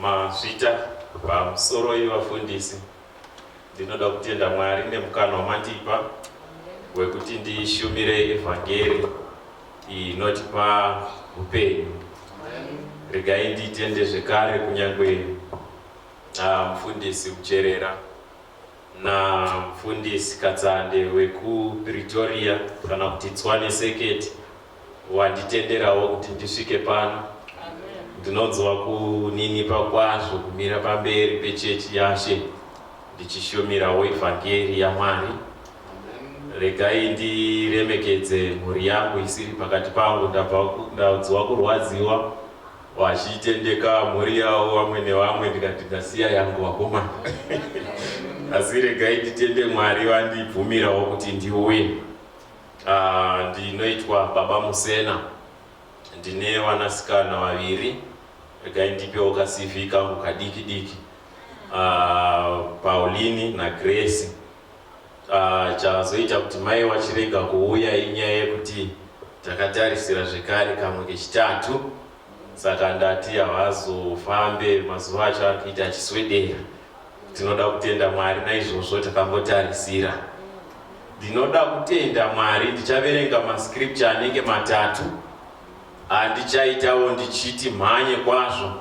mazvita pamusoro yevafundisi ndinoda kutenda mwari nemukana wamandipa wekuti ndishumire evhangeri inotipa upenyu regai nditende zvekare kunyange ah, mufundisi kucherera namufundisi katsande wekupretoria kana kuti tswane seketi wanditenderawo kuti ndisvike pano. Ndinonzwa kuninipa kwazvo kumira pamberi pechechi yaShe ndichishumirawo evhangeri yaMwari. Regai ndiremekedze mhuri yangu isiri pakati pangu. Ndabva ndanzwa kurwadziwa vachitendeka mhuri yavo vamwe nevamwe ndikati ndasiya yangu vakomana. Asi regai nditende Mwari vandibvumirawo kuti ndiuye. Uh, ndinoitwa baba Musena, ndine vanasikana vaviri. Regai ndipewo ka CV kangu kadiki diki. Uh, Pauline na Grace. Uh, chazoita kuti mai wachirega kuuya inyaya yekuti takatarisira zvekare kamwe kechitatu saka ndati havazofambe mazuva acho ari kuita achiswedera Tinoda kutenda Mwari naizvozvo takambotarisira. Ndinoda kutenda Mwari ndichaverenga mascripture anenge matatu andichaitawo ndichiti mhanye kwazvo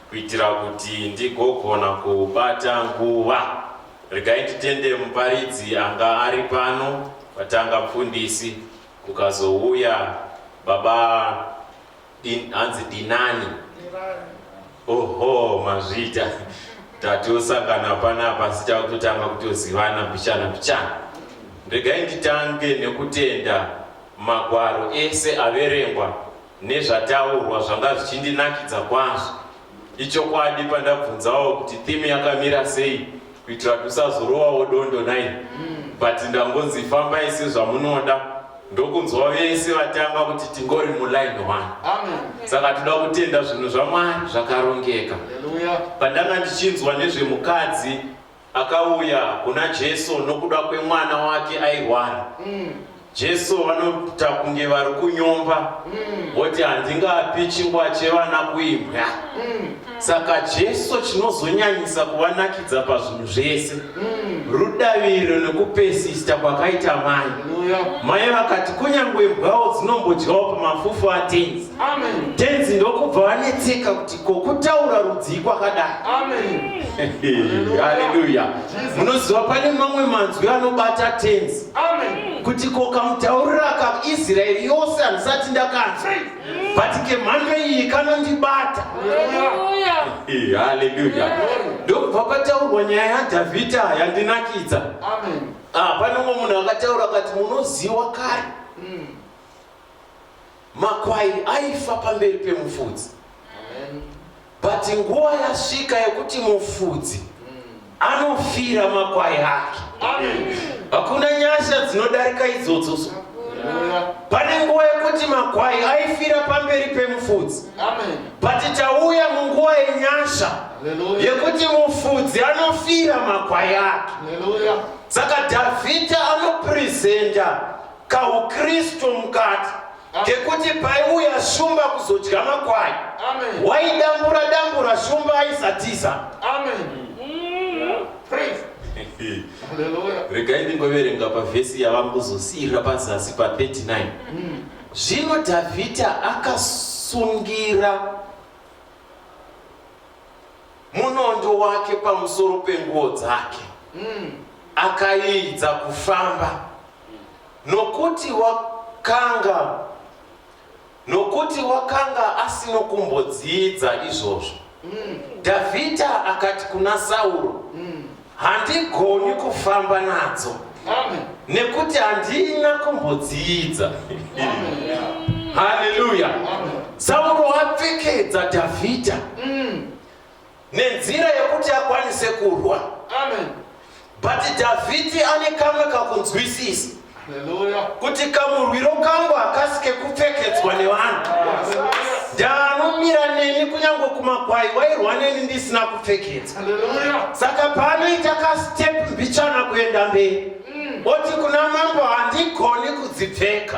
kuitira kuti ndigogona kubata nguva. Regai nditende muparidzi anga ari pano patanga mfundisi kukazouya baba Din, hanzi dinani oho mazvita tatosangana panapa asi takutotanga kutozivana mbichana mbichana regai nditange nekutenda magwaro ese averengwa nezvataurwa zvanga zvichindinakidza kwazvo Ichokwadi pandabvunzawo kuti theme yakamira sei kuitira kuti usazorowawo dondo nai mm. but ndangonzi fambai sezvamunoda ndokunzwa vese vatanga kuti tingori muline one saka toda kutenda zvinhu zvamwari zvakarongeka pandanga ndichinzwa nezvemukadzi Akauya kuna Jesu nokuda kwemwana wake airwara. Mm. Jesu vanoita kunge vari kunyomba mm. voti mm. handingapi chingwa chevana kuimbwa mm. saka Jesu chinozonyanyisa kuvanakidza pazvinhu zvese mm. rudaviro nekupesista kwakaita mai yeah. mai vakati kunyange mbwawo dzinombodyawo pamafufu atenzi tenzi ndokubva vanetseka kuti kokutaura rudzii kwakadai haleluya munoziva pane mamwe manzwi anobata tenzi kuti kokamutaurira ka israeri yose handisati ndakanzwa but kemhando iyi kanondibata haleluya ndokubva pataurwa nyaya yadhavhidha yandinakidza ah, pane umwe munhu akataura kati munoziwa kare mm. Makwai aifa pamberi pemufudzi. But nguva yasvika yekuti mufudzi anofira makwai ake. Hakuna nyasha dzinodarika idzodzo so. Pane nguva yekuti makwai aifira pamberi pemufudzi. But tauya munguva yenyasha yekuti mufudzi anofira makwai ake. Saka Dhavhidha anopresenta kaukristu mukati kekuti paiuya shumba kuzodya makwai waidambura dambura shumba aisatiza regai ndingoverenga pavhesi yava kuzosiira pazasi pa39 mm. zvino dhavhidha akasungira munondo wake pamusoro penguo dzake mm. akaidza kufamba nokuti wakanga nokuti wakanga asino kumbodziidza izvozvo mm. dhavhidha akati kuna sauro mm. handigoni kufamba nadzo Amen. nekuti handina kumbodziidza haleluya sauro apfekedza dhavhidha mm. nenzira yekuti akwanise kurwa Amen. but dhavhidhi ane kamwe kakunzwisisa kuti kamurwiro kangu hakasi kekupfekedzwa nevanhu ndaanomira neni kunyange kumakwai wairwa neni ndisina kupfekedza saka paanoita kastep mbichana kuenda mberi mm. oti kuna mambo handigoni kudzipfeka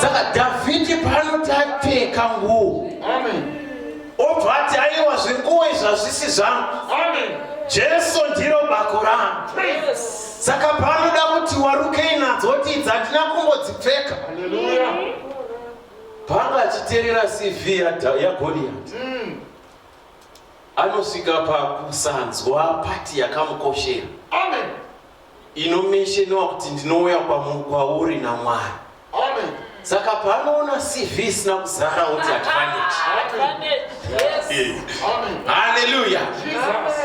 saka dhavhidhi paanoti apfeka nguo obva ati aiwa zvinguo izvazvisi zvangu jesu ndiro bako rangu saka paanoda kuti warukei nadzo kuti idzi handina kungodzipfeka paanga achiterera cv yagoriyati mm. Anosvika pakusanzwa pati yakamukoshera. Amen. Inomeshenewa kuti ndinouya kwauri naMwari. Amen. Saka paanoona CV isina kuzara kuti advantage. Advantage. Yes. Amen. Hallelujah. Jesus.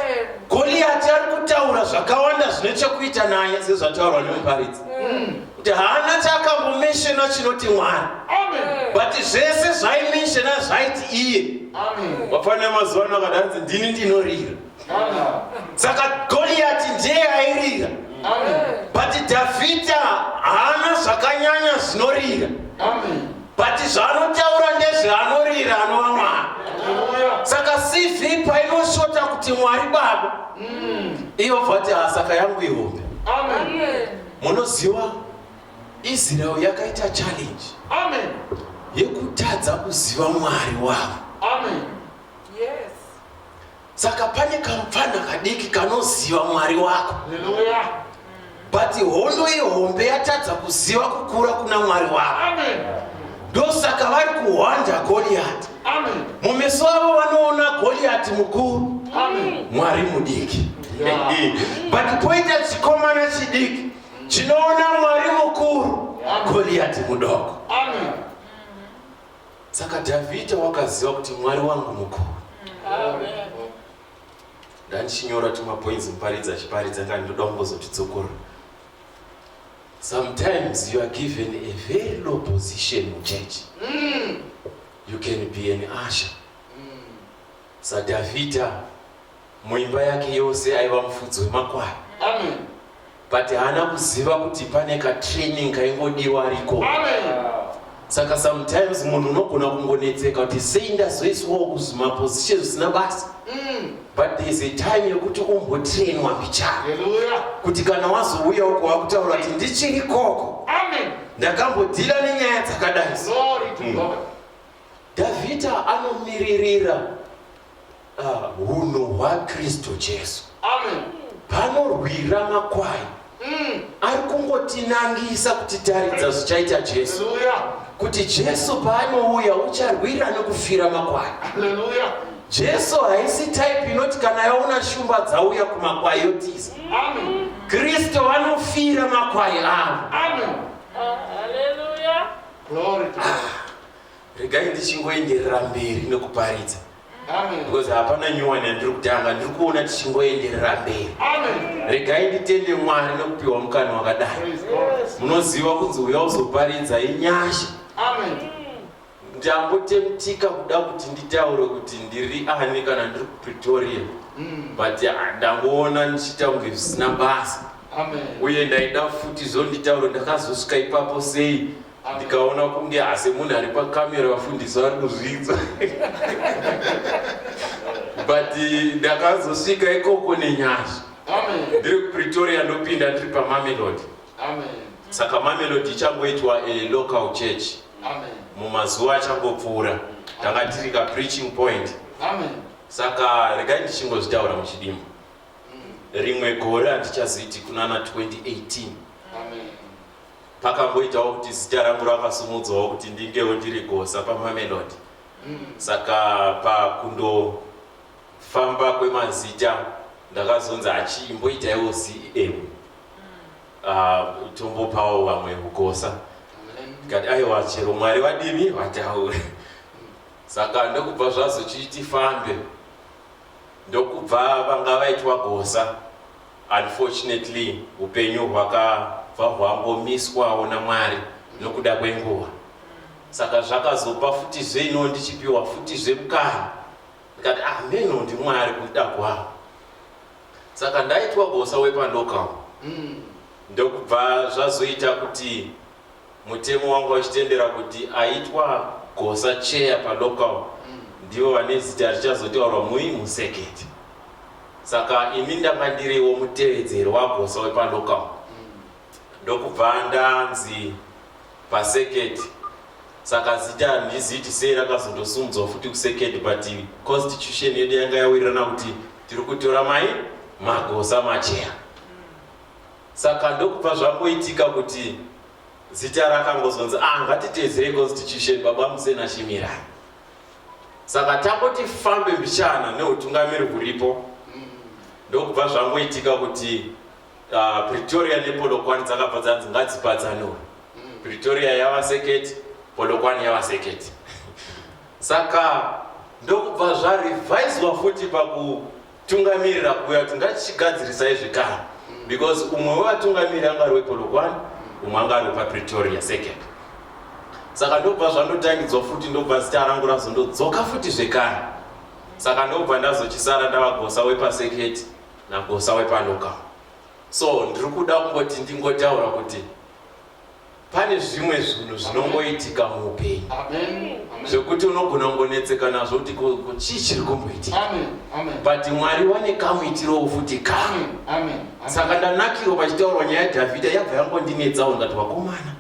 Goliati ari kutaura zvakawanda zvine chekuita naye sezvataurwa nemuparidzi. Mm. kuti haana chaakambomenshena chinoti mwari but zvese zvaimenshena zvaiti iye vafanira mazuva ano akadanzi ndini ndinorira saka goriyati ndiye airira but dhavhidha haana zvakanyanya zvinorira but zvaanotaura ndezveanorira anova mwari saka cv painoshota kuti mwari baba mm. iyo vati hasaka yangu ihombe Munoziva Israel yakaita challenge. Amen. Yekutadza kuziva Mwari wavo. Amen. Yes. Saka pane kamupfana kadiki kanoziva Mwari wako. Hallelujah. But hondo ihombe yatadza kuziva kukura kuna Mwari wako. Amen. ndosaka vari kuhwanda goriyati mumeso avo vanoona goriyati mukuru mwari mudiki but poita chikomana chidiki chinoona mwari mukuru goriyati mudoko saka dhavhidha wakaziva kuti mwari wangu mukuru ndandichinyora tumapoinzi muparidzi achiparidza nga ndoda kungozotidzokorora Sometimes you are given a very low position in church. Mm. You can be an usher. Mm. SaDavida muimba yake yose aiva mufudzi wemakwai. Amen. But haana kuziva kuti pane katraining kaingodiwa ariko. Amen. saka sometimes munhu unogona kungonetseka kuti sei ndazoiswawo kuzvimaposition zvisina basa mm. but thereis a time yekuti umbotrainwa mbichana kuti kana wazouya uko wakutaura kuti ndichiri koko ndakambodhila nenyaya dzakadai mm. davhita anomiririra hunhu hwaKristu Jesu. Amen. Panorwira makwai mm. ari kungotinangisa kutitaridza zvichaita Jesu. Hallelujah. Kuti Jesu paanouya ucharwira nekufira makwai. Hallelujah. Jesu haisi type inoti kana yaona shumba dzauya kumakwai yotiza. Amen. Kristu vanofira makwai avo. Amen. Hallelujah. Glory to God. Ah, regai ndichingoenderera mberi nekuparidza. because hapana nyuwani yandiri kutanga ndiri kuona tichingoenderera mberi regai nditende mwari nekupiwa mukana wakadai munoziva kunzi uya uzoparidza inyasha ndambotemtika kuda kuti nditaure kuti ndiri ani kana ndiri kupretoria mm. but ah, ndangoona ndichiita kunge zvisina basa uye ndaida futi zvonditauro ndakazosvika ipapo sei ndikaona kunge asi munhu ari pakamera vafundisi vari kuzvidza but eh, ndakazosvika ikoko nenyasha ndiri kupretoria ndopinda ndiri pamamelodi saka mamelodi ichangoitwa eh, local church mumazuva achangopfuura tanga tiri ka preaching point saka regai ndichingozvitaura muchidimbo mm. rimwe gore handichaziti kunana 2018 Amen. Pakamboitawo kuti zita rangu rakasumudzwawo kuti ndingewo ndiri Gosa paMamelodi. Saka pakundofamba kwemazita ndakazonzi achii mboitaiwo CEM. Ah, tombopawo vamwe Gosa. Ndikati aiwa chero Mwari vadini vataure. Saka ndokubva zvazochiti fambe ndokubva vanga vaitwa gosa unfortunately hupenyu hwakabva hwangomiswawo naMwari nokuda kwenguva saka zvakazopa futizve ino ndichipiwa futizve mukana ndikati ah meno ndiMwari kuda kwawo saka ndaitwa gosa wepandokawo ndokubva zvazoita kuti Mutemo wanga uchitendera kuti aitwa Gosa chair palocal ndivo vane zita richazotaurwa mui musekete. Saka ini ndanga ndiriwo mutevedzeri waGosa wepalocal ndokubva ndanzi pasekete. Saka zita handizivi kuti sei rakazondosimudzwa futi kusekete but constitution yedu yanga yawirirana kuti tiri kutora mai magosa macheya. Saka ndokubva zvangoitika kuti zita rakangozonzi ah ngatiteedzerei constitution baba musena shimirai saka tangoti fambe mbichana neutungamiri huripo ndokubva zvangoitika kuti uh, pretoria nepolokwani dzakabva dzanzi ngadzipadzanure pretoria yava seketi polokwani yava seketi saka ndokubva zvarivhaiswa futi paku Tungamirira kuuya kuti ngatichigadzirisai zvikara because umwe wevatungamiriri anga ari wepolokwane umwe anga ari wepapretoria second saka ndobva zvandotangidzwa futi ndobva zita rangu razondodzoka futi zvekare saka ndobva ndazochisara ndavagosa wepaseketi nagosa wepaloka so ndiri kuda kungoti ndingotaura kuti Pane zvimwe zvinhu zvinongoitika muupenyu zvekuti unogona kungonetseka nazvo kuti ko chii chiri kumboitika, but Mwari vane kamuitirowo futi kamwe. Saka ndanakirwa pachitaurwa nyaya yaDhavhidha yabva yangondinetsawo ndati vakomana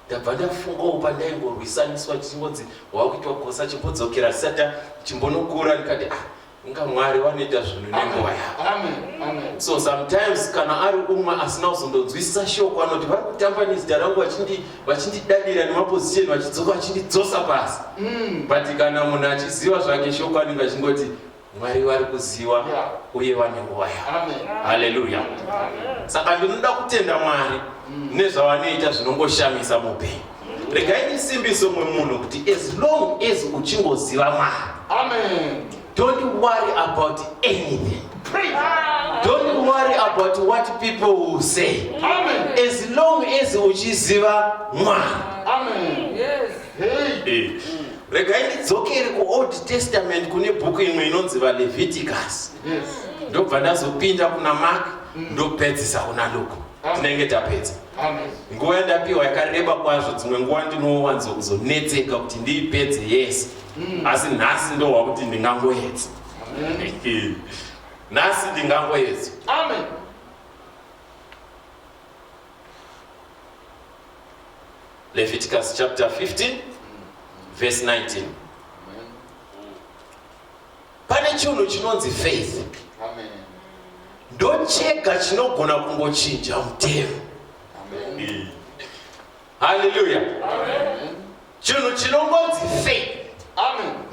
ndabva ndafungawo pandaingorwisaniswa chingonzi wakuitwa gosa chimbodzokera sata chimbonokura ndikati ah Inga Mwari vanoita zvinhu nenguva yavo. So sometimes kana ari umwe asina kuzondonzwisisa shoko anoti vari kutamba nezita rangu vachindidadira nemaposition vachidzoka vachindidzosa pasi. Mm. But kana munhu achiziva zvake shoko anenge achingoti mwari vari kuziva uye vane nguva yavo haleluya saka ndinoda kutenda mwari mm. nezvavanoita zvinongoshamisa mupenyu regai ndisimbiso umwe munhu kuti as long as uchingoziva mwari amen don't worry about anything don't worry about what people will say amen as long as uchiziva mwari amen yes hey eh, regai ndidzokere kuold testament kune bhuku imwe inonzi valeviticus yes ndobva ndazopinda kuna mark mm. ndopedzisa kuna luka tinenge tapedza nguva yandapiwa yakareba kwazvo dzimwe nguva ndinowanzo kuzonetseka kuti ndiipedze yese mm. asi nhasi ndohwa kuti ndingangoedza nhasi ndingangoedza leviticus chapter 15 verse 19 pane chinhu chinonzi faith ndochega chinogona kungochinja mutemo haleluya chinhu chinongonzi faith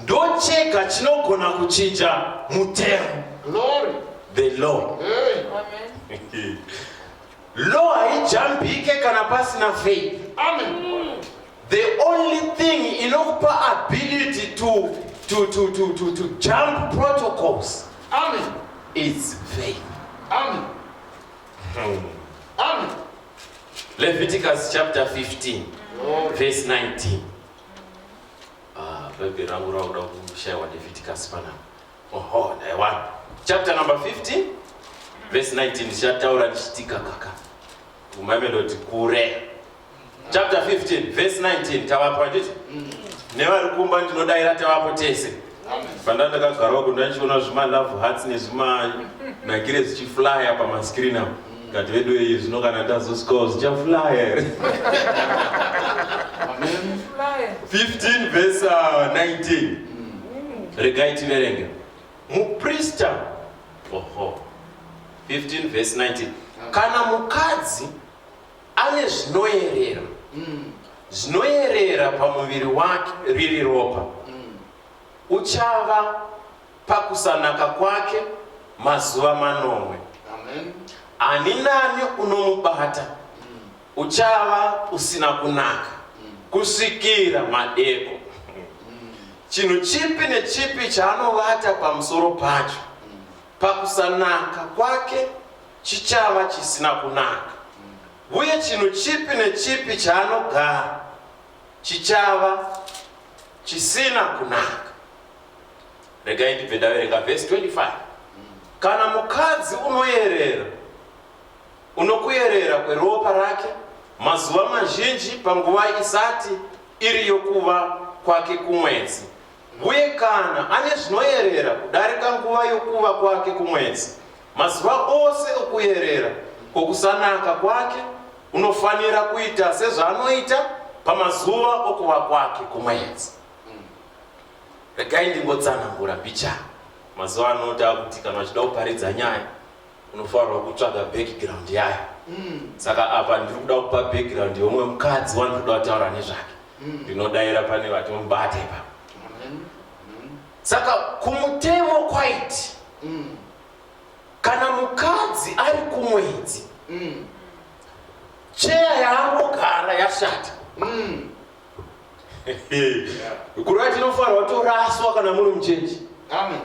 ndochega chinogona kuchinja mutemo the law Law haijambike kana pasina faith. Amen. The only thing inokupa ability to, to, to, to, to, to jump protocols. Amen. It's faith. Amen. Hmm. Amen. Leviticus chapter 15 oh. verse 19. Ah, bhaibheri rangu rakuda kushaiwa Leviticus panapa. Oho, dai wani. Chapter number 15 verse 19 ndichataura ndichitika kaka. Umamelodi kure. Chapter 15 verse 19 tavapo handiti? Mm. Nevari kumba ndinodaira tavapo tese. Fanda ndakagarawo kundachiona zvima love hearts nezvima nagire zichiflyer pama screen apo. Ngati vedu iyi zvino kana tazo score zvicha flyer here? 15 verse 19 uh, regai tiverenge muprista oho 15 verse 19 kana mukadzi ane zvinoerera mm. zvinoerera pamuviri wake riri ropa mm. uchava pakusanaka kwake mazuva manomwe. Amen. Ani nani unomubata uchava usina kunaka kusvikira madeko. Chinhu chipi nechipi chaanovata pamusoro pacho pakusanaka kwake chichava chisina kunaka, uye chinhu chipi nechipi chaanogara chichava chisina kunaka. Regai ndibve ndaverenga vhesi 25 kana mukadzi unoyerera unokuyerera kweropa rake mazuva mazhinji panguva isati iri yokuva kwake kumwedzi uye kana ane zvinoyerera kudarika nguva yokuva kwake kumwedzi mazuva ose okuyerera kwokusanaka kwake unofanira kuita sezvaanoita pamazuva okuva kwake kumwedzi Regai ndimbotsanangura mbicha. Mazuva ano takuti kana uchida kuparidza nyaya unofanirwa kutsvaga background yayo. Mm. Saka apa ndiri kuda kupa background yeumwe mukadzi wandiri kuda kutaura nezvake. Mm. Ndinodaira pane vati mubate ipa. Mm. Mm. Saka kumutemo kwaiti mm. kana mukadzi ari kumwedzi mm. cheya yaangogara yashata mm. Kurati inofanirwa toraswa kana muri muchechi. Amen.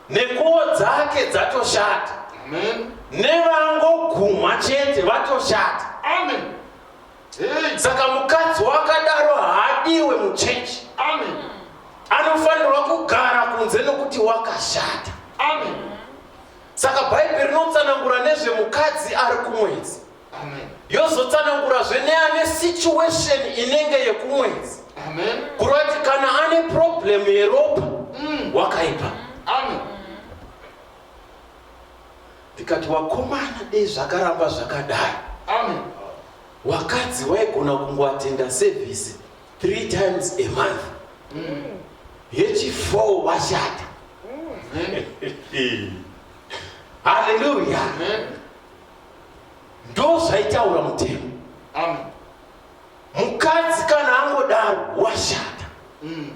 Nekuwo dzake dzatoshata. Amen. Nevangogumwa chete vatoshata. Amen. Hey. Saka mukadzi wakadaro haadiwe muchechi. Amen. Anofanirwa kugara kunze nokuti wakashata. Amen. Saka Bhaibheri rinotsanangura nezvemukadzi ari kumwedzi. yozotsanangurazve neane situation inenge yekumwedzi kureva kuti kana ane problem yeropa mm. wakaipa ndikati wakomana dei zvakaramba zvakadai wakadzi waigona kungoatenda service three times a month mm. yechifour washata mm. haleluya ndozvaitaura mutemo amen mukadzi kana angodaro washata mm.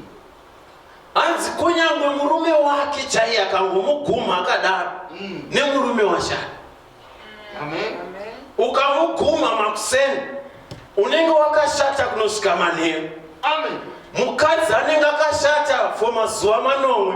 hanzi kunyangwe murume wake chaiye akangomuguma akadaro mm. nemurume washata amen ukamuguma makuseni unenge wakashata kunosvika manheru amen mukadzi anenge akashata for mazuva manomwe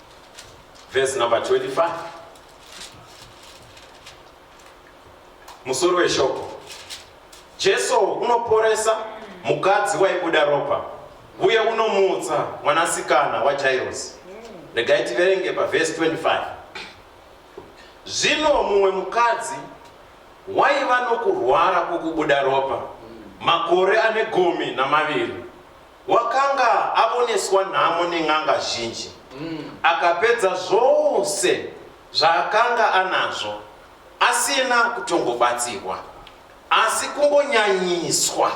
Verse number 25. Musoro weshoko. Jesu unoporesa mukadzi waibuda ropa uye unomutsa mwanasikana waJairosi. Regai tiverenge paverse 25. Zvino mumwe mukadzi waiva nokurwara kwokubuda ropa makore ane gumi namaviri Wakanga avoneswa nhamo nen'anga zhinji, akapedza zvose zvaakanga anazvo asina kutongobatsirwa asi kungonyanyiswa.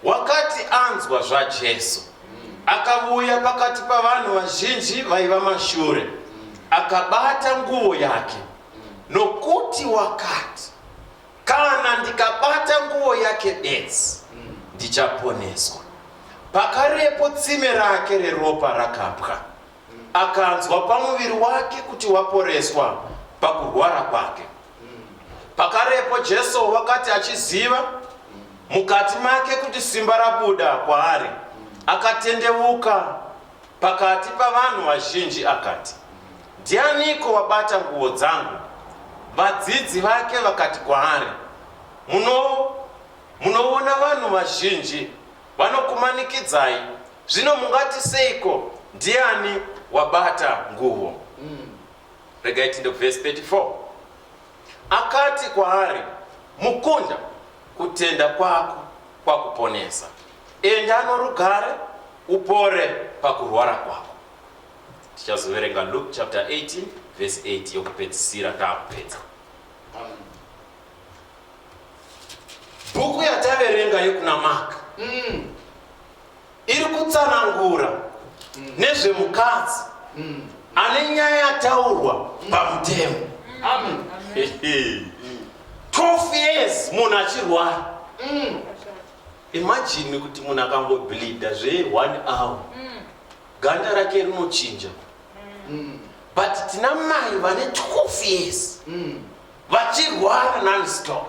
Wakati anzwa zvaJesu, akavuya pakati pavanhu vazhinji vaiva mashure, akabata nguvo yake, nokuti wakati, Kana ndikabata nguo yake bedzi, ndichaponeswa. Pakarepo tsime rake reropa rakapwa, akanzwa pamuviri wake kuti waporeswa pakurwara kwake. Pakarepo Jesu wakati achiziva mukati make kuti simba rabuda kwaari, akatendeuka Pakati pavanhu vazhinji akati, Ndianiko wabata nguo dzangu? Vadzidzi vake vakati kwaari, Muno, munoona vanhu vazhinji vanokumanikidzai, zvino mungati seiko ndiani wabata nguo? Mm. Regai tinde kuvhesi 34. Akati kwaari, Mukunda, kutenda kwako kwakuponesa. Enda norugare, Upore pakurwara kwako. Tichazoverenga Luke chapter 18 verse 8 yokupedzisira taakupedza. Bhuku yataverenga yokuna Mark mm. iri kutsanangura mm. nezvemukadzi mm. ane nyaya yataurwa mm. pamutemo. Amen. Amen. 12 years munhu achirwara mm. Imagine kuti munhu akango bleeder zve one hour ganda rake rinochinja but tina mai vane 12 years vachirwara nonstop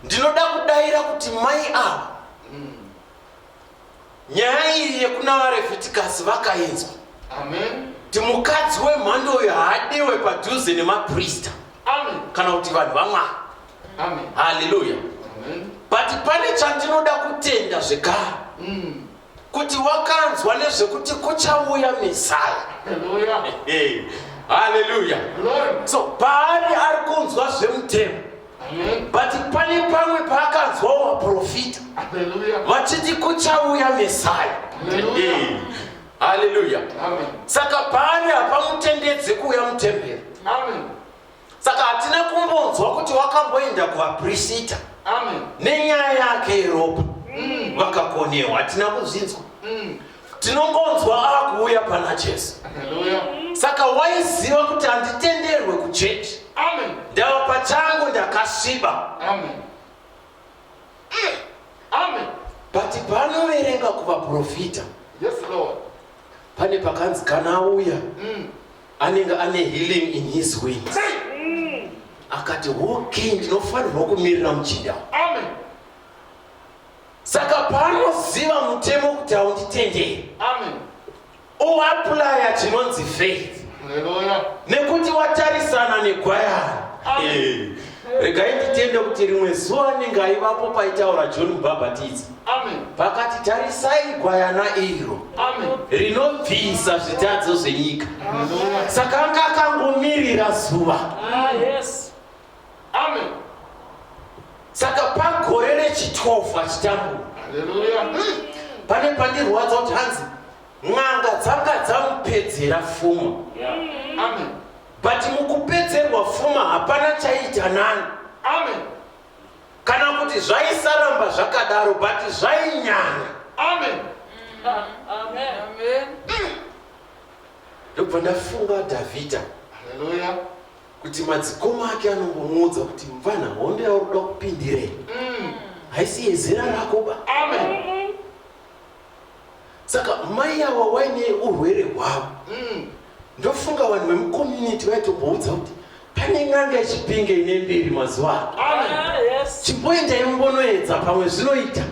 ndinoda kudaira kuti mai ava Nyaya iyi yekuna vaRevhitikasi vakainzwa. Amen. Kuti mukadzi wemhando uyu haadiwe padhuze nemaprista kana kuti vanhu vaMwari. Amen. Hallelujah. Amen. But pane chandinoda kutenda zvekare. Mm. Kuti wakanzwa nezvekuti kuchauya Messiah. Hallelujah. Hallelujah. Glory. So paari ari kunzwa zvemutemo. but pane pamwe paakanzwa waprofita vachiti kuchauya mesaya haleluya saka paari hapamutendedze kuuya mutemberi saka hatina kumbonzwa kuti wakamboenda kuvaprisita nenyaya yake yeropa mm. vakakonewa hatina kuzvinzwa mm. tinongonzwa akuuya pana jesu saka waiziva kuti handitenderwe kuchechi ndava pachangu ndakasviba but panoverenga kuvaprofita pane pakanzi kana auya mm. anenge ane healing in his way mm. akati okay ndinofanirwa kumirira muchinda amen Saka paanoziva mutemo kuti haunditendei uaplaya chinonzi faith nekuti watarisana negwayana eh, regai nditende kuti rimwe zuva anenge aivapo paitaura john mubhabhatidzi pakati tarisai gwayana iro rinobvisa zvitadzo zvenyika saka anga akangomirira zuva ah, Amen. Saka pagore rechitofu achitambura. Hallelujah. Pane pandirwadza kuti hanzi n'anga dzanga dzamupedzera fuma. Yeah. Amen. But mukupedzerwa fuma hapana chaita nani. Amen. Kana kuti zvaisaramba zvakadaro but zvainyanya. Amen. Amen. Amen. Ndobva ndafunga Davida. Hallelujah. kuti madzikoma ake anombomuudza kuti mvana hondo yauri kuda kupindirei mm. haisi yezera rako ba amen saka mai awa waine urwere hwavo mm. ndofunga vanhu vemucommunity vaitomboudza kuti pane n'anga yechipinge ine mbiri mazuva ano ah, chimboendai mumbonoedza pamwe zvinoita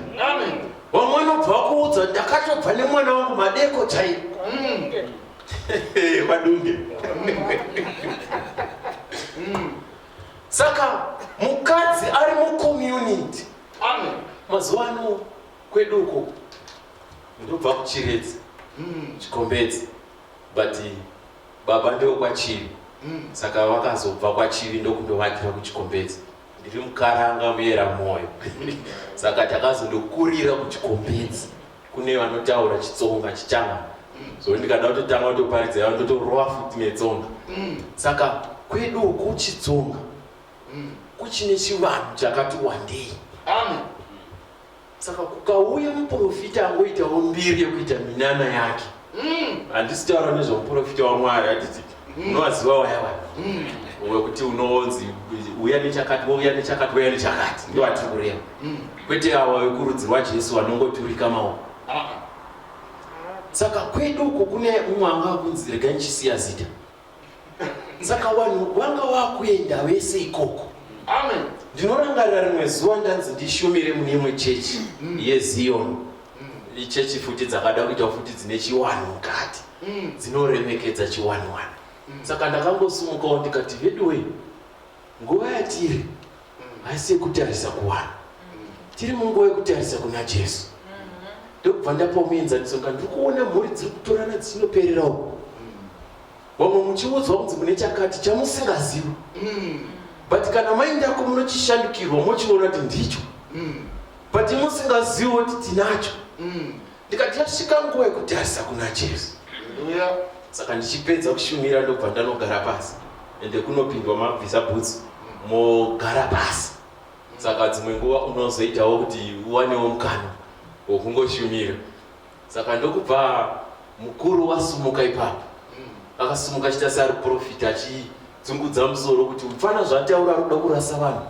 vamwe vanobva vakuudza ndakatobva nemwana wangu madeko chaivo mm. vadunge mm. saka mukadzi ari mucommunity mazuva ano kwedu uko ndobva kuchiredzi mm. chikombedzi but baba ndivo kwachiri mm. saka vakazobva kwachiri ndokundovakira kuchikombedzi ndiri mukaranga muyera mwoyo saka takazondokurira kuchikombedzi kune vanotaura chitsonga chichava so ndikada kutotanga kutoparidza yavo ndotorova futi netsonga mm. saka kwedu uku chitsonga mm. kuchine chivanhu chakati wandei amen saka kukauya muprofita angoitawo mbiri yekuita minana yake handisi taura nezvomuprofita wamwari handiti unovaziva waya waya wekuti unonzi uya nechakati wouya nechakati wouya nechakati ndo vatiri kureva kwete awa vekurudzi rwajesu vanongoturika maoko saka kwedu uko kune umwe anga akunzi regai ndichisiya zita saka vanhu vanga vakuenda vese ikoko amen ndinorangarira rimwe zuva ndanzi ndishumire mune imwe chechi mm. yeziyoni mm. ichechi futi dzakada kuita futi dzine chiwanhu mukati mm. dzinoremekedza chiwanhuwanhu saka ndakangosumukawo ndikati veduwei nguva yatiri haisi yekutarisa kuwana tiri munguva yekutarisa kuna jesu ndokubva ndapa muenzaniso ka ndiri kuona mhuri dziri kutorana dzichinoperera uku vamwe muchiudzwa kunzi mune chakati chamusingazivi but kana maindako munochishandukirwa mochiona kuti ndicho but musingazivi kuti tinacho ndikati yasvika nguva yekutarisa kuna jesu saka ndichipedza kushumira ndobva ndanogara pasi ende kunopindwa mabvisa bhutsu mogara pasi saka dzimwe nguva unozoitawo kuti uwanewo mukana wokungoshumira saka ndokubva mukuru wasumuka ipapo akasumuka achita seari profita achidzungudza musoro kuti mfana zvataura ruda kurasa vanhu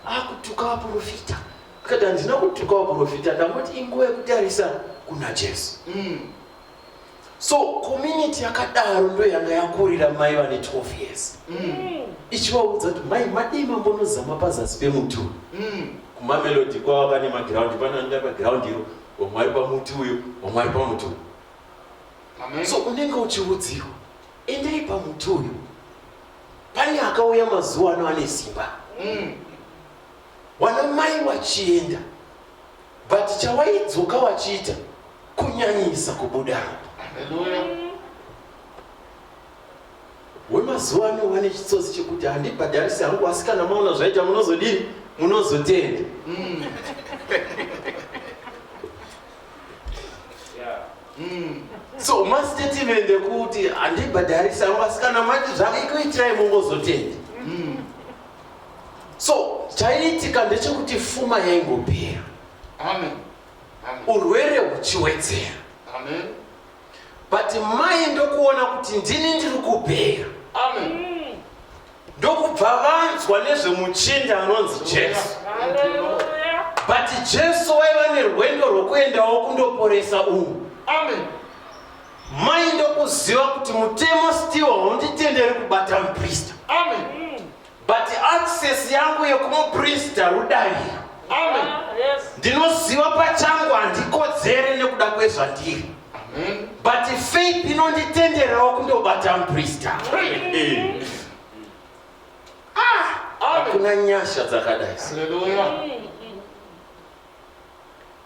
akutuka vaprofita akati handina kutuka vaprofita ndangoti inguva yekutarisa kuna jesu mm. so community yakadaro ndo yanga yakurira mai vane 12 years mm. ichivaudza kuti mai madii mambonozama pazasi pemuti uyu mm. kumamelodi kwava pane magiraundi panoenda pagiraundi iro vamwe ari pamuti uyo vamwe ari pamuti uyo so unenge uchiudziwa endai pamuti uyo Pane akauya mazuva ano ane simba mm. wana mai wachienda but chawaidzoka wachiita kunyanyisa kubuda wemazuva ano wane chitsotsi chekuti handibhadharisi hangu asi kana maona zvaita munozodii munozotenda mm. so mastatement ekuti handibhadharisa yangu asi kana mati zvakaikuitirai mongozotenda mm. so chaiitika ndechekuti fuma yaingopera urwere huchiwedzera but mai ndokuona kuti ndini ndiri kupera ndokubva vanzwa nezvemuchinda anonzi jesu but jesu waiva nerwendo rwokuendawo kundoporesa umu mai ndokuziva kuti mutemo stiwo haunditenderi kubata muprista but access yangu yekumuprista rudaviro ndinoziva pachangu handikodzere nekuda kwezvandiri but faith inonditenderawo kundobata muprista ah, hakuna nyasha dzakadai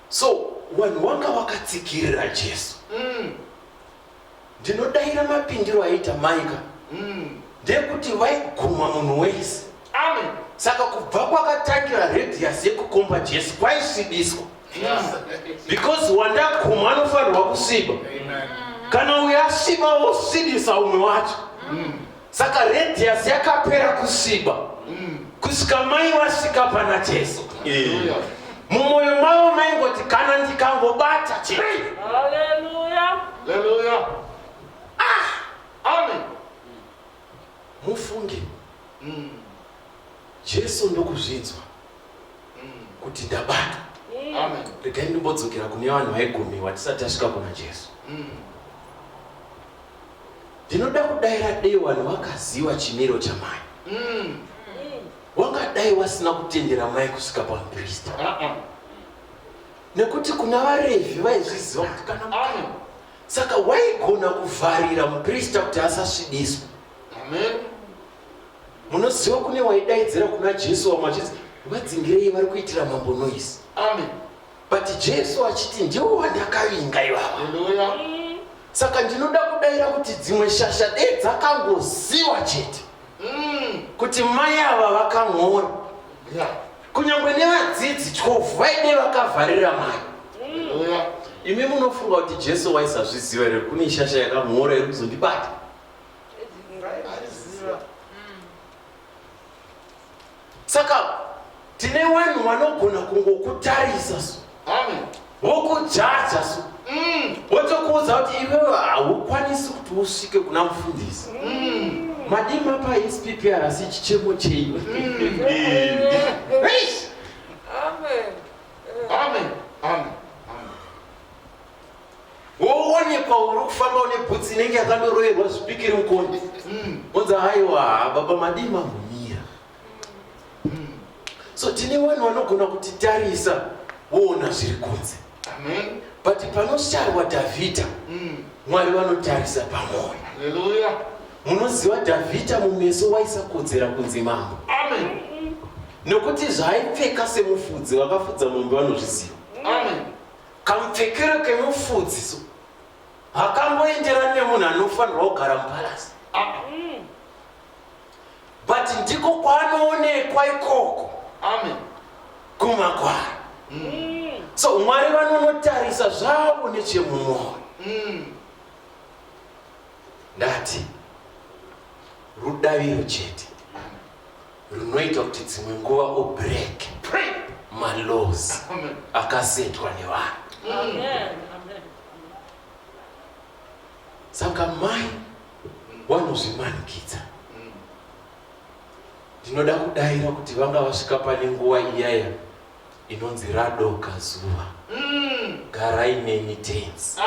so vanhu wanga wakatsikirira jesu mm. ndinodaira mapindiro aita maika mm. ndekuti vaiguma munhu wese Amen. Saka kubva kwakatangira radius yekukomba Jesu kwaisvibiswa. Because wandaguma anofanirwa kusviba. Kana uyo asviba wosvibisa umwe wacho. Mm. Saka radius yakapera kusviba. Mm. Kusvika mai vasvika pana Jesu. Yeah mumwoyo mavo maingoti kana ndikangobata chete haleluya haleluya ah amen Mufunge, umm Jesu ndokuzvinzwa umm kuti ndabatwa. Amen. Regai ndimbodzokera kune vanhu vaigumiwa tisati tasvika kuna Jesu. Umm. Ndinoda kudaira dei vanhu vakaziva chimiro chamai. Umm. Wangadai wasina kutendera mai kusvika pamuprista. Uh -uh. Nekuti kuna vaRevhi vaizviziva kuti kana mwana saka waigona kuvharira muprista kuti asasvibiswa amen munoziva kune waidaidzira kuna jesu vamwe vachiti vadzingirei vari kuitira mambo noise amen but jesu achiti ndiwo wandakavinga ivava saka ndinoda kudaira kuti dzimwe shasha dei dzakangoziva chete mm. kuti mai ava vakamhora yeah. kunyangwe nevadzidzi 12 vaide vakavharira mai imi munofunga kuti jesu waisazviziva here kune ishasha yakamhora iri kuzondibata saka tine vanhu vanogona kungokutarisa so wokujaja so mm. wotokuudza kuti iwewe haukwanisi kuti usvike kuna mufundisi mm. madima paispprs chichemo chenyu mm. woonekwa uri kufamba une bhutsi inenge yakandoroerwa zvipikiri mukonde onza haiwa baba madima mumira so tine vanhu vanogona kuti tarisa woona zviri kunze but panosharwa dhavhidha mm. mwari vanotarisa pamwoyo munoziva dhavhidha mumeso waisakodzera kunzi mambo nokuti zvaaipfeka semufudzi vakafudza mombe vanozviziva kamupfekero kemufudzi so hakamboenderani nemunhu anofanirwa kugara mupalasi but ndiko kwaanoonekwa ikoko amen kumakwara mm. so mwari vanonotarisa zvavo nechemumwoyo mm. ndati rudaviro chete runoita kuti dzimwe nguva ubreak malows akasetwa nevanhu Saka mai vanozvimanikidza. Ndinoda kudaira kuti vanga vasvika pane nguva iyaya inonzi radoka zuva. Mm. Garai neni tenzi.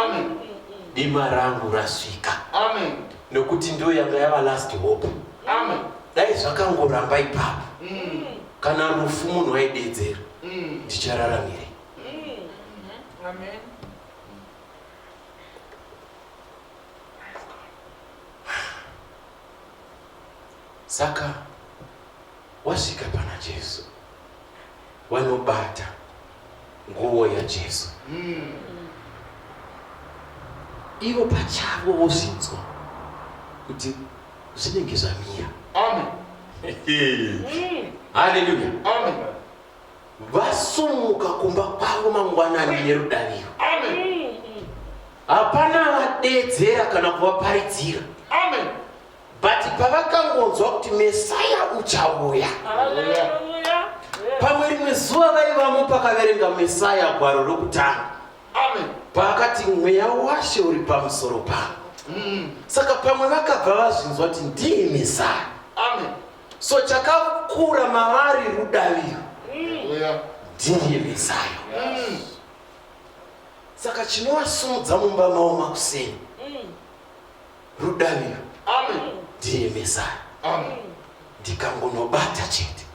Dima rangu rasvika. Amen. Nokuti ndiyo yanga yava last hope. Amen. Dai zvakangoramba ipapo. Mm. Kana rufu munhu waidedzera. Mm. Ndichararamire. Mm. Amen. Saka wasvika pana Jesu, wanobata nguo yaJesu mm. ivo pachavo vozvinzwa kuti zvinenge zvamira. Amen. Hallelujah. Amen. Vasumuka kumba kwavo mangwanani nerudaviro. Hapana vadedzera kana kuvaparidzira. Amen. But pavakangonzwa kuti Messiah uchauya. Pamwe rimwe zuva vaivamo pakaverenga Messiah gwaro rokutanga. Amen. Paakati mweya washe uri pamusoro pavo. Mm. Saka pamwe vakabva vazvinzwa kuti ndiye Messiah. Amen. So chakakura mavari rudaviro dhiri remesayo. Saka chinovasumudza mumba mavo makuseni rudaviro dhiri remesayo. Ndikangonobata chete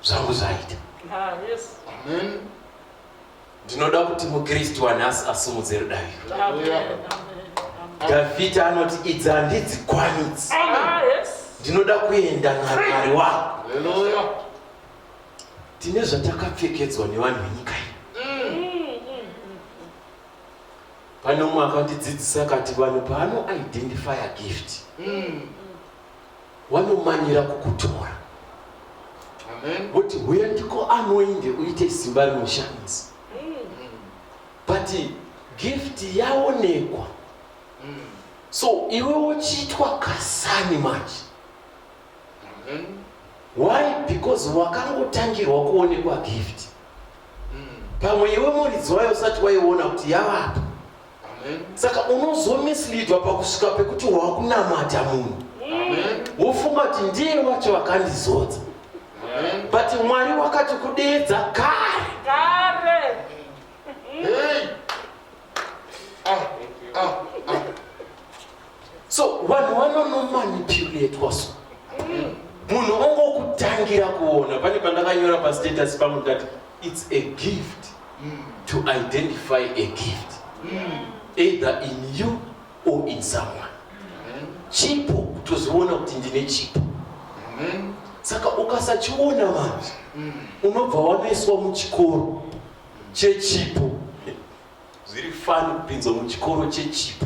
zvangu zvaita. Amen. Ndinoda kuti muKristu wanhasi asimudze rudairo. Dhavhidhi anoti idzi handidzi kwanidzi, ah, ndinoda kuenda naMwari wangu. Tine zvatakapfekedzwa nevanhu venyika iyi. Pane umwe akandidzidzisa akati vanhu paano identify gift mm. wanomanyira kukutora woti huya ndiko anoinde uite simba rinoshandisa but gift yaonekwa so iwe wochiitwa kasani manje why because wakangotangirwa kuonekwa gift pamwe iwe muridzi wayo usati waiona kuti yavapo saka unozomislidwa pakusvika pekuti wakunamata munhu wofunga kuti ndiye wacho vakandizodza but mwari wakati kudeedza kare kare ah, ah, ah. so vanhu vanonomanipulatwa so munhu ongokutangira kuona pane pandakanyora pastatus pangu ndati its a gift to identify a gift either in you or in someone chipo kutoziona kuti ndine chipo saka ukasachiona vanhu unobva wanoiswa muchikoro chechipo Zviri fani kupinzwa muchikoro chechipo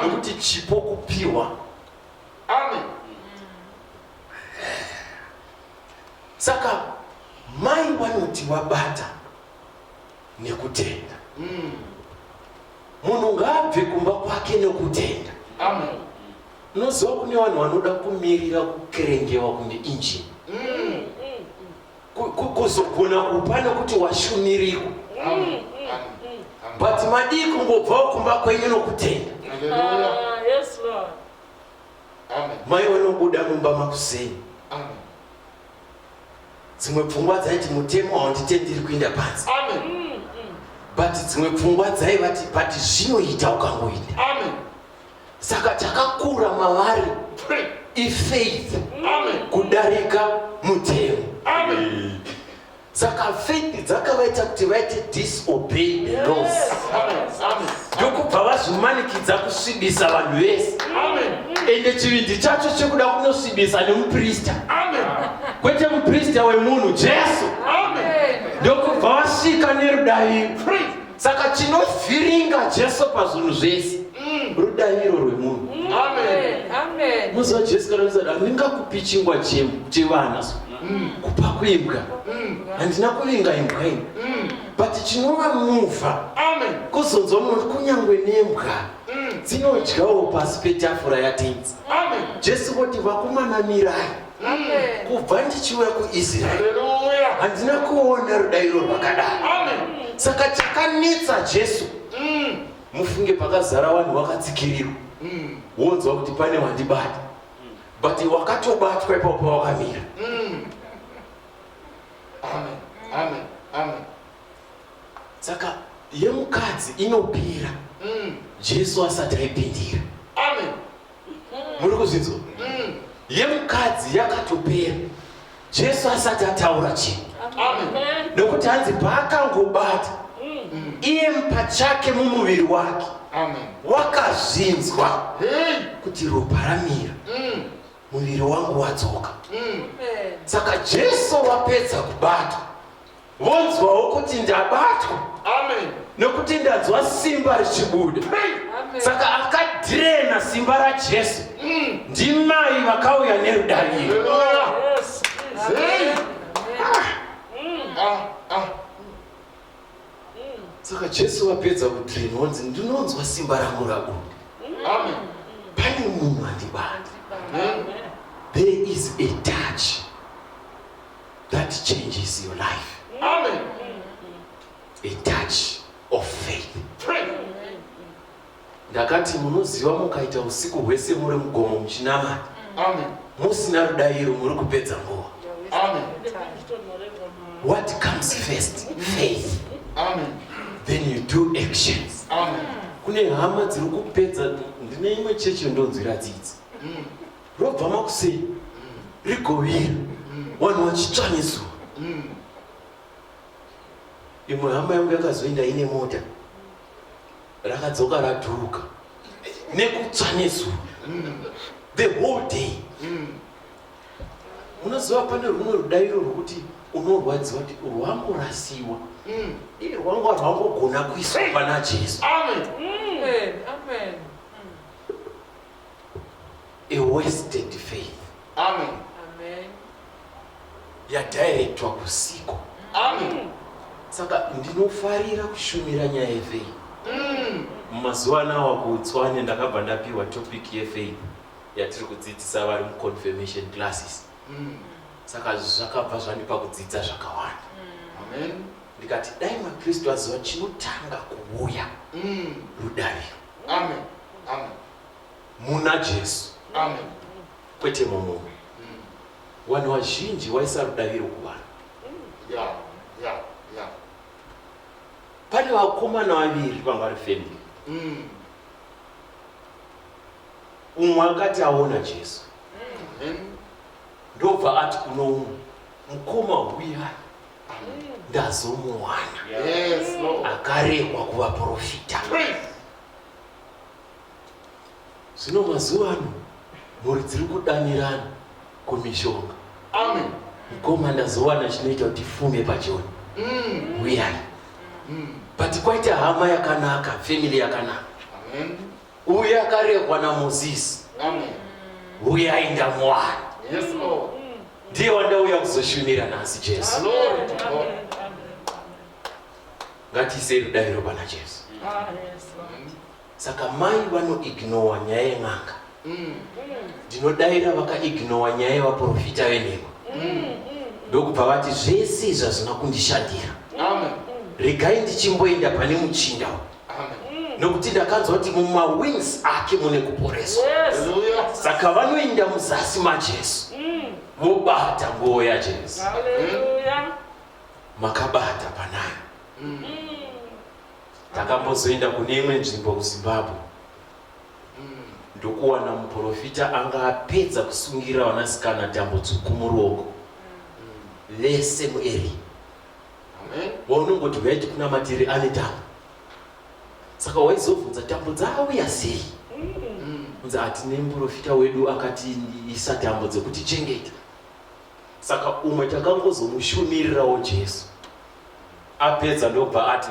nekuti chipo kupiwa. Amen. Saka mai vanoti wabata nekutenda. Mm. Munhu ngaabve kumba kwake nekutenda. Amen. Unoziva kune vanhu vanoda kumirira kukerengewa kunge injini. Mm. kuzogona kupa nokuti washumirikwa but madii kungobvawo kumba kwenyu nokutenda ah, mai wanobuda mumba makuseni dzimwe pfungwa dzaiti mutemo haunditendiri kuinda panzi but dzimwe pfungwa dzaivati but zvinoita ukangoinda saka chakakura mavari ifaith kudarika mutemo saka faith dzakavaita kuti vaite disobey the laws ndokubva vazvimanikidza kusvibisa vanhu vese ende chivindi chacho chekuda kunosvibisa nemuprista kwete muprista wemunhu jesu ndokubva vasvika nerudaviro saka tinovhiringa jesu pazvinhu zvese mm. rudaviro rwemunhu mm. muzi wajesu kana uzati handingakupi chingwa chevana so mm. kupa kuimbwa handina kuvinga imbwa ini but chinova muvha kuzonzwa munoti kunyange nembwa dzinodyawo pasi petafura yatenzi jesu voti vakumanamirai kubva ndichiuya kuisraeri handina kuona rudairo rwakadai saka chakanetsa jesu mm. mufunge pakazara vanhu vakatsikirirwa mm. wonzwa kuti pane wandibata but wakatobatwa ipapo pawakamira mm. saka yemukadzi inopira jesu asati aipindira muri kuzvinzwa mm. yemukadzi yakatopera jesu asati ataura chinhu nekuti hanzi paakangobata mm. iye pachake mumuviri wake wakazvinzwa kuti ropa ramira mm. muviri wangu wadzoka saka jesu wapedza kubata vonzwawo kuti ndabatwa nokuti ndanzwa simba richibuda saka akadhirena simba rajesu mm. ndimai vakauya nerudariro saka jesu vapedza kudhirena vonzi ndinonzwa simba rangu rabuda pane munhu andibata there is a touch that changes your life. Amen. A touch of faith. Ndakati munoziva mukaita usiku hwese muri mugomo muchinamata. Amen. Musina rudairo muri kupedza nguva. Amen. What comes first? Faith. Amen. Then you do actions. Amen. Kune hama dziri kupedza ndine imwe chechi ndonzwira dzidzi. Mm. Robva makusei rigovira vanhu vachitsva nezuva. Imwe hama yangu yakazoenda ine mota rakadzoka radhuruka nekutsva nezuva the whole day. Unoziva pane rumwe rudairo rwokuti unorwadziwa kuti rwamborasiwa mm. iye rwanga rwangogona kuiswa pana jesu mm. a wasted faith amen yadirectwa kusiko amen saka ndinofarira kushumira nyaya yefaith mm. mumazuva mm. anawa kutswanya ndakabva ndapiwa topic yefaith yatiri kudzidzisa vari muconfirmation classes mm. saka zvakabva zvandipa kudzidza zvakawanda mm. ndikati dai makristu aziva chinotanga kuuya mm. rudariro Amen. Amen. Muna Jesu. Amen. Kwete mumwe. Mm. Vanhu vazhinji waisa rudaviro kuvanhu. Yeah. Yeah. Yeah. Pane vakomana vaviri vanga vari family. Mm. Umwe akati aona Jesu. Mm. Ndobva ati kuno umwe mukoma huyai. ndazomuwana akarehwa kuvaprofita zvino mazuva ano mhuri dziri kudanirana kumishonga amen mukoma ndazowana chinoita kuti fume pajoni mm. uyai mm. but kwaita hama yakanaka family yakanaka Uye akarehwa naMozisi. Amen. Huyai ndamuwana. Yes, Lord. Ndiye wandauya kuzoshumira nhasi Jesu. Glory to God. Ngatiisei rudairo pana Jesu. Ah, yes, Lord. Saka mai vanoignowa nyaya yen'anga. Mm. Ndinodaira vakaignowa nyaya yevaprofita venhema. Mm. Ndokubva vati zvese izvi hazvina kundishandira. Amen. Regai ndichimboenda pane muchinda uyu. nokuti ndakanzwa kuti mumawings ake mune kuporeswa saka vanoinda muzasi majesu mobata mm. nguo yajesu makabata panayo mm. takambozoenda kune imwe nzvimbo kuzimbabwe mm. ndokuwana muprofita anga apedza kusungira vanasikana tambo tsvuku muruoko vese mueri waunongoti huyai tikunamatire ane tambo saka waizobvunza tambo dzauya sei kunzi hatine muprofita wedu akati isa tambo dzekuti chengeta saka umwe takangozomushumirirawo jesu apedza ndobva ati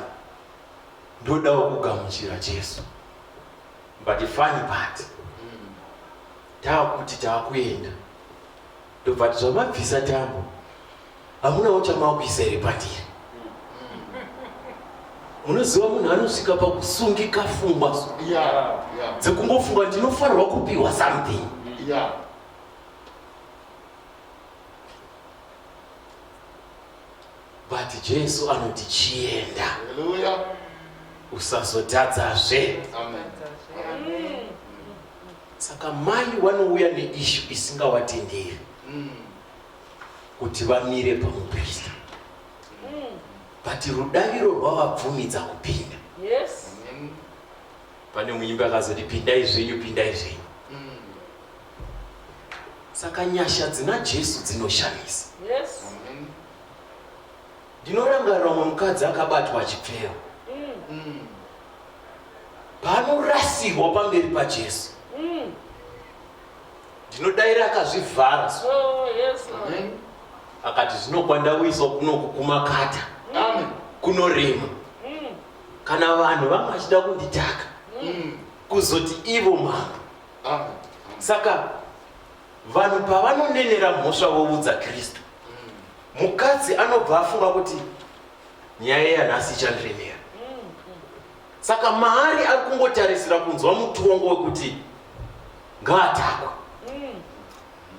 ndodawo kugamuchira jesu but fani pati taakuti taakuenda Ndobva nditi zvamabvisa tambo hamunawo chamakuisa here pandiri munoziva munhu anosvika pakusungika fungwa dzekungofunga ndinofanirwa kupiwa something but jesu anoti chienda usazotadzazve Saka mai vanouya neishu isingavatenderi mm. kuti vamire pamuprista mm. but rudaviro rwavabvumidza kupinda yes. mm. pane muimbi akazoti pindai zvenyu pindai zvenyu mm. saka nyasha dzina jesu dzinoshamisa yes. mm. Ndinorangarira umwe mukadzi akabatwa achipfewa paanorasirwa pamberi paJesu. Ndinodaira akazvivhara akati zvino kwandauyiswa kuno kukumakata kunorema kana vanhu vanga vachida kunditaka kuzoti ivo mambo saka Vanhu pavanonenera mhosva voudza Kristu, mukadzi anobva afunga kuti nyaya yanhasi ichandiremera. Saka maari ari kungotarisira kunzwa mutongo wekuti ngaatakwe.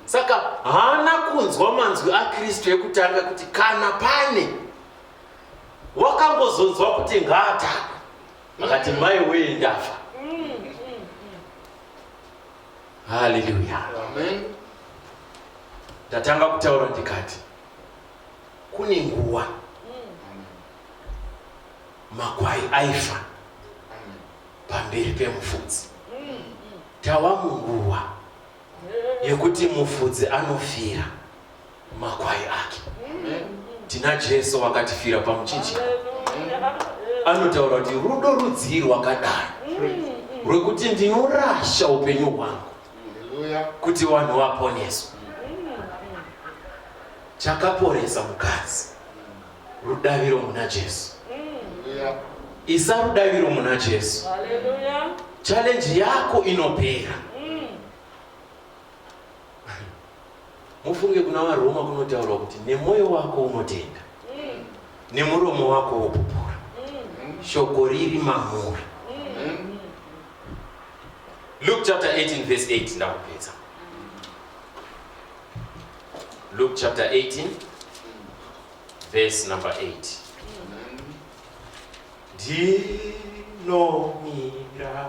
Saka haana kunzwa manzwi aKristu ekutanga kuti kana pane wakangozonzwa kuti ngaatakwe akati mai weye ndafa Haleluya. Amen. Ndatanga kutaura ndikati kune nguwa makwai aifa pamberi pemufudzi. Tava munguwa yekuti mufudzi anofira. makwai ake. Tina Jesu wakatifira pamuchinjiko anotaura kuti rudo rudzii rwakadai rwekuti ndinorasha upenyu hwangu kuti vanhu vaponeswe. Chakaporesa mukadzi rudaviro muna Jesu. Isa rudaviro muna Jesu. Challenge yako inopera. Mufunge kuna vaRoma kunotaurwa kuti nemwoyo wako unotenda, nemuromo wako wopupura, shoko riri mamuri. Luke chapter 18 verse 8 ndakupedza. Luke chapter 18 verse number 8. Ndinomira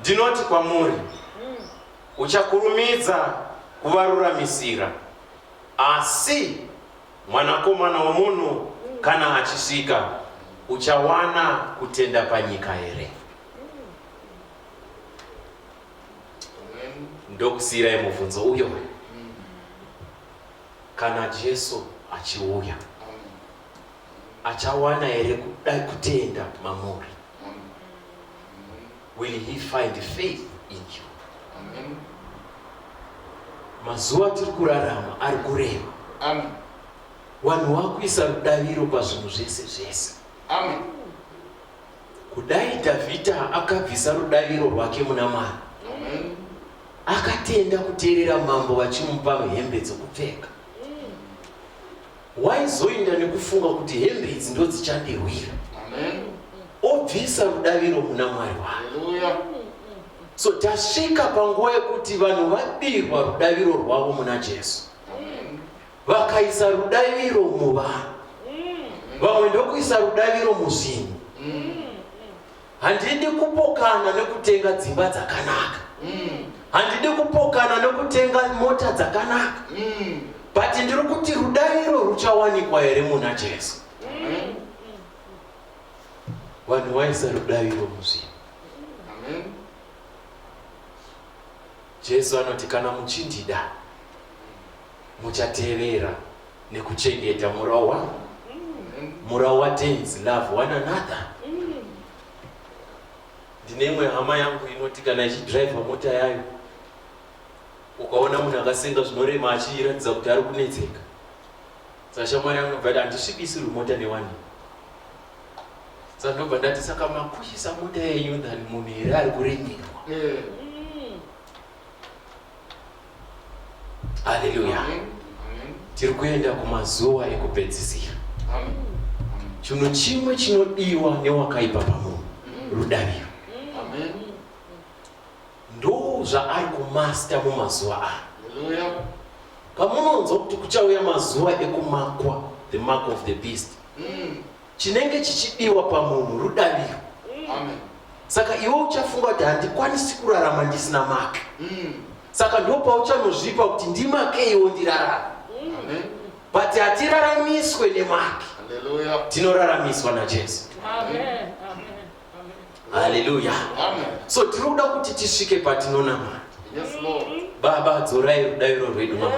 Ndinoti kwamuri, uchakurumidza kuvaruramisira, asi mwanakomana womunhu kana achisvika, uchawana kutenda panyika here? Ndokusiirai mubvunzo uyo kana Jesu achiuya. Achawana here kuda kutenda mamuri? Will he find faith in you? Amen. Mazuva tiri kurarama ari kureva. Amen. Vanhu vakuisa rudaviro pazvinhu zvese zvese. Amen. Kudai Dhavhidha akabvisa rudaviro rwake muna Mwari. Amen. Akatenda kuteerera mambo vachimupa hembe dzokupfeka. Waizoinda nekufunga kuti hembe idzi ndodzichandirwira. Amen. Obvisa rudaviro muna Mwari wake. Hallelujah. So tasvika panguva yekuti vanhu vabirwa rudaviro rwavo muna Jesu. Amen. Vakaisa rudaviro muvanhu. Vamwe ndokuisa rudaviro muzvinhu. Handidi kupokana nekutenga dzimba dzakanaka. Mm. Handidi kupokana nekutenga mota dzakanaka. Mm. But ndiri kuti rudairo ruchawanikwa here muna Jesu? Mm. Vanhu waisa rudairo muzvinhu. Amen. Jesu anoti kana muchindida Muchatevera nekuchengeta murau wangu, murau waTenzi, love one another. Ndine imwe hama yangu inoti kana ichidriver mota yayo ukaona munhu akasenga zvinorema achiratidza kuti ari kunetseka saka shamwari yangu nobva handisvikisirwi mota newani saka ndobva ndati saka makushisa mota yenyu than munhu here ari kuremerwa eh. Haleluya. Tiri kuenda kumazuva ekupedzisira. Chinhu chimwe chinodiwa newakaipa pamunhu rudaviro. Ndoo zvaari kumasta mumazuva aya. Pamunonzwa kuti kuchauya mazuva ekumakwa, the mark of the beast. Mm. chinenge chichidiwa pamunhu rudaviro saka iwe uchafunga kuti handikwanisi kurarama ndisina make mm. saka ndopauchanozvipa kuti ndimakeiwo ndirarama mm. but hatiraramiswe nemake tinoraramiswa najesu Amen. Amen. Haleluya. So tinoda kuti tisvike patinonamata. Yes, Lord. Baba dzorai rudairo rwedu mama.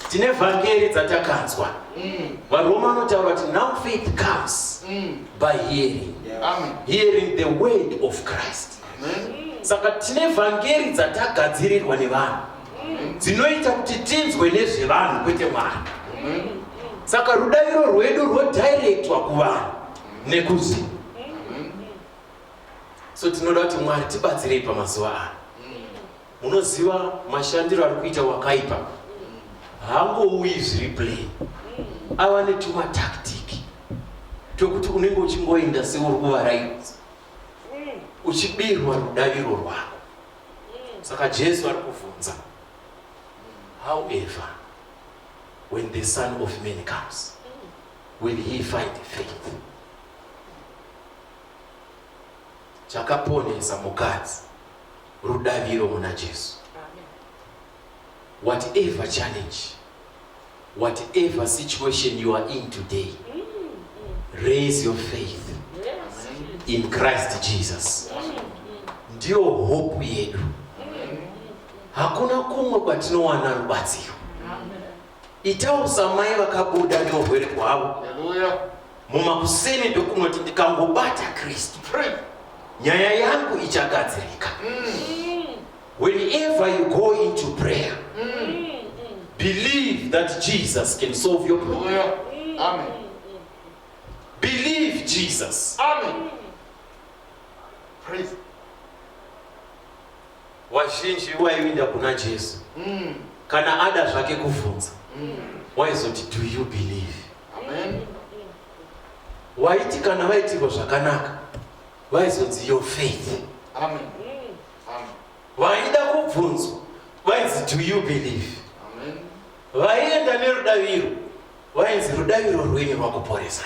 Tine vhangeri dzatakanzwa. Mm. Varoma vanotaura kuti now faith comes mm. by hearing. Amen. Hearing the word of Christ. Amen. Saka tine vhangeri dzatagadzirirwa nevanhu. Mm. Dzinoita kuti tinzwe nezvevanhu kwete mwana. Saka rudairo rwedu rwodirectwa kuvanhu. nekuziva so tinoda kuti mwari tibatsirei pamazuva ano munoziva mashandiro ari kuita wakaipa hangouyi zviri play ava netumatactiki twekuti unenge uchingoenda seuri kuvaraidza uchibirwa rudaviro rwako saka jesu ari kuvhunza however when the son of man comes Will he find faith? Chakaponesa mukadzi rudaviro muna Jesu. Whatever challenge, whatever situation you are in today, raise your faith in Christ Jesus. Ndiyo hope yedu. Hakuna kumwe kwatinowana rubatsiro. Itawo samai vakabuda neurwere hwavo mumakuseni ndokunoti ndikangobata Kristu nyaya yangu ichagadzirika. Mm. Whenever you go into prayer, mm. believe that Jesus can solve your problem. Mm. Amen. Believe Jesus. Amen. Praise Vazhinji vaivinda kuna Jesu mm. kana ada zvake kuvhunza mm. waizoti do you believe Amen. waiti kana vaitirwa zvakanaka vaizonzi your faith Amen. Amen. vaida kubvunzwa vainzi do you believe vaienda nerudaviro vainzi rudaviro rwenyu rwakuporesai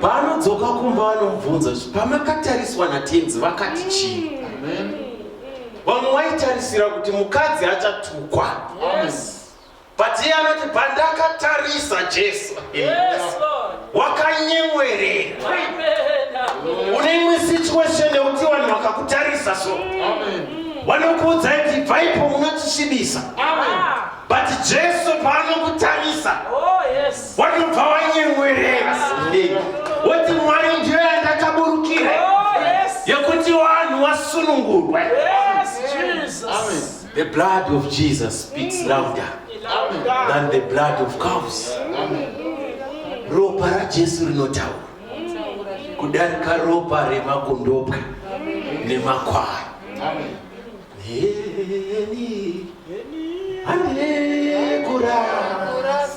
paanodzoka kumba vanomubvunza kuti pamakatariswa natenzi vakati chii vamwe waitarisira kuti mukadzi achatukwa but iye anoti pandakatarisa jesu yes, Lord. wakanyemwerera une imwe situation yekuti vanhu vakakutarisa so vanokuudza kuti bvaipo munotisvibisa but jesu paanokutarisa oh, wanobva wanyemwerera woti mwari ndiyo yandakaburukira oh, yekuti vanhu wasunungurwe yes, Jesus. Amen. The blood of Jesus speaks mm. louder than the blood of cows. Ropa raJesu rinotaura kudarika ropa remakondobwe nemakwai. Heni, hane kurara.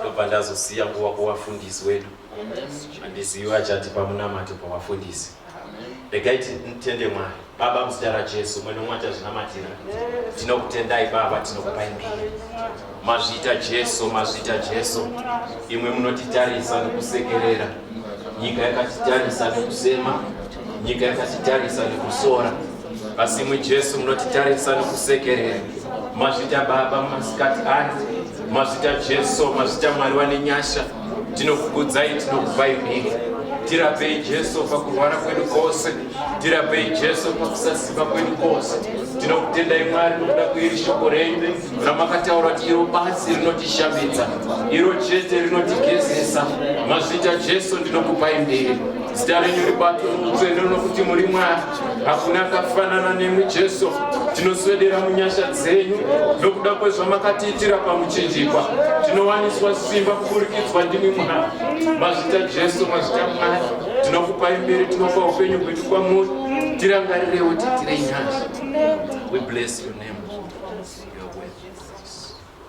ndobva ndazosiya kuva kuvafundisi wedu handizivi vachati pamunamato pavafundisi regai titende mwari baba muzita rajesu mwe nomwe achazvinamatira tinokutendai baba tinokupai mbiri mazvita jesu mazvita jesu imwe munotitarisa nokusekerera nyika yakatitarisa nokusema nyika yakatitarisa nokusora Asi imwi Jesu munotitarisa nokusekerera. Mazvita Baba mumasikati ano, mazvita Jesu, mazvita Mwari wane nyasha. Tinokukudzai, tinokupai mhiri. Tirapei Jesu pakurwara kwedu kwose, tirapei Jesu pakusasimba kwedu kwose. Tinokutendai Mwari nokuda kweiri shoko renyu ramakataura kuti iro basi rinotishambidza, iro chete rinotigezesa. Mazvita Jesu ndinokupai mhiri. Zita renyu ribatwe muutsvene nokuti muri Mwari. hakuna akafanana nemwi jesu tinoswedera munyasha dzenyu nokuda kwezvamakatiitira pamuchinjikwa tinowaniswa simba kupurikidzwa ndimi mwana mazvita jesu mazvita mwana tinokupa imberi tinopa upenyu hwedu kwamuri tirangarirewo titire nyasha we bless your name